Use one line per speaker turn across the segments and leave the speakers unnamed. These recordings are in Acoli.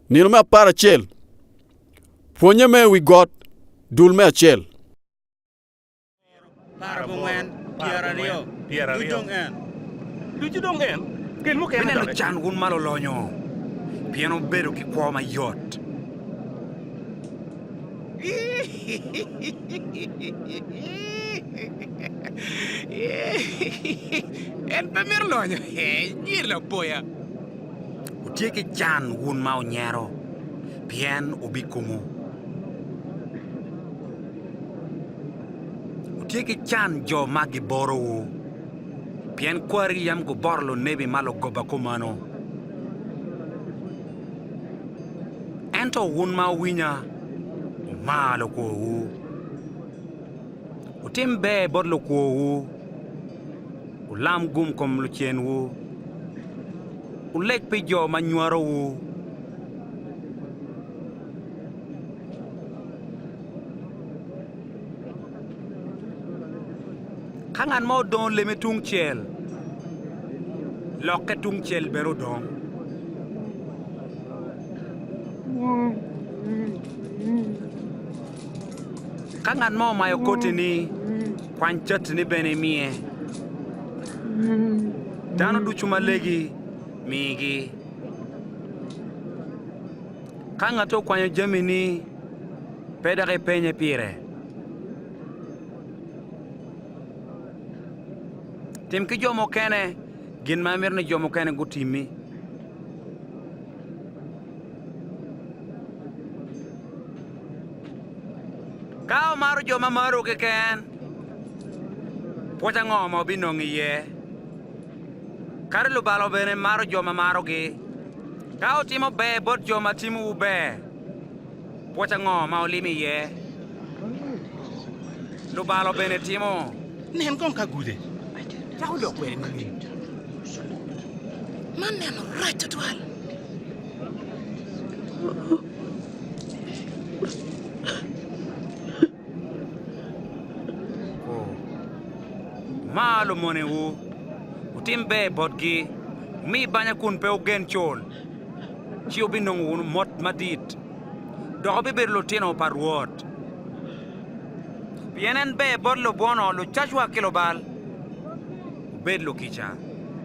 Nino me apar acel, pwonye me wi got, dul me acel. Bed nen lucan wun ma lulonyo, pien wubedo ki kwo mayot. En pe mito lonyo. Inyir lapoya. Wutye ki can wun ma wunyero, pien wubikumo. Wutye ki can jo ma giborowu, pien kwari yam guboro lunebi ma lugoba kumeno. Ento wun ma wuwinya, wumar lukworwu, wutim ber bot lukworwu, wulam gum kom lucenwu, wuleg pi jo ma nywarowu. Ka ngat mo odongo leme tungcel, lokke tungcel bene odong. Ka ngat mo omayo koti-ni, kwany cati-ni bene imiye. Dano ducu ma legi, migi. Ka ngati okwanyo jamini, pe dok ipenye pire. Tim ki jo mukene gin ma imito ni jo mukene gutimmi. Ka omaro jo ma maro keken, pwoc ango ma obinongo iye? Kadi lubalo bene maro jo ma marogi. Ka wutimo ber bot jo ma timowu ber, Pwoc ango ma olimi iye? Lubalo bene timo. Nen kong ka gude cako odok kwede nining? Man neno rac tutwal. Mar lumonewu, wutim ber botgi, wumi banya kun pe wugen col, ci wubinongo wunu mot madit, dok wubibedo lutino pa Rwot. Pien en ber bot lubwono, lucacwa ki lubal. Wubed lukica,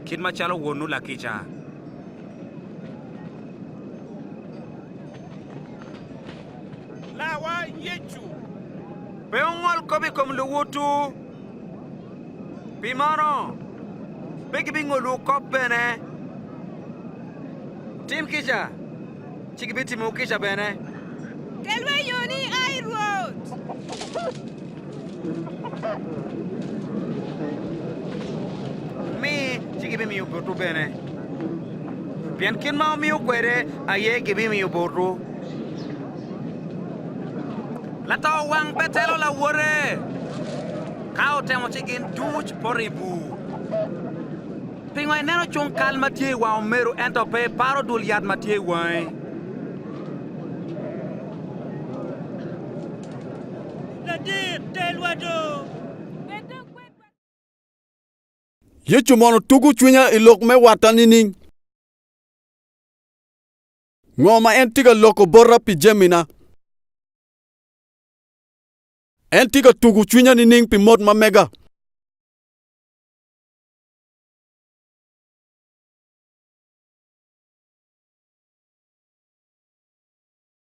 kit macalo Wonwu lakica. Larwa Yecu pe ongol kop i kom luwotwu, pi meno pe gibingolwu kop bene. Wutim kica, ci gibitimowu kica bene. Kelwa i yoni i ai, Rwot. Mi, ci gibimiyo botwu bene, pien kit ma wumiyo kwede aye gibimiyo botwu. Lato wang betelo lawote, ka otemo ci gin duc poto i bur. Pingo ineno cung kal ma tye i wang omeru ento pe iparo dul yat ma tye i wangi? Yecu mono tugo cwinya i lok me watta nining? Ngo ma en tye ka loko bota pi jamina? En tye ka tugo cwinya nining pi mot ma mega?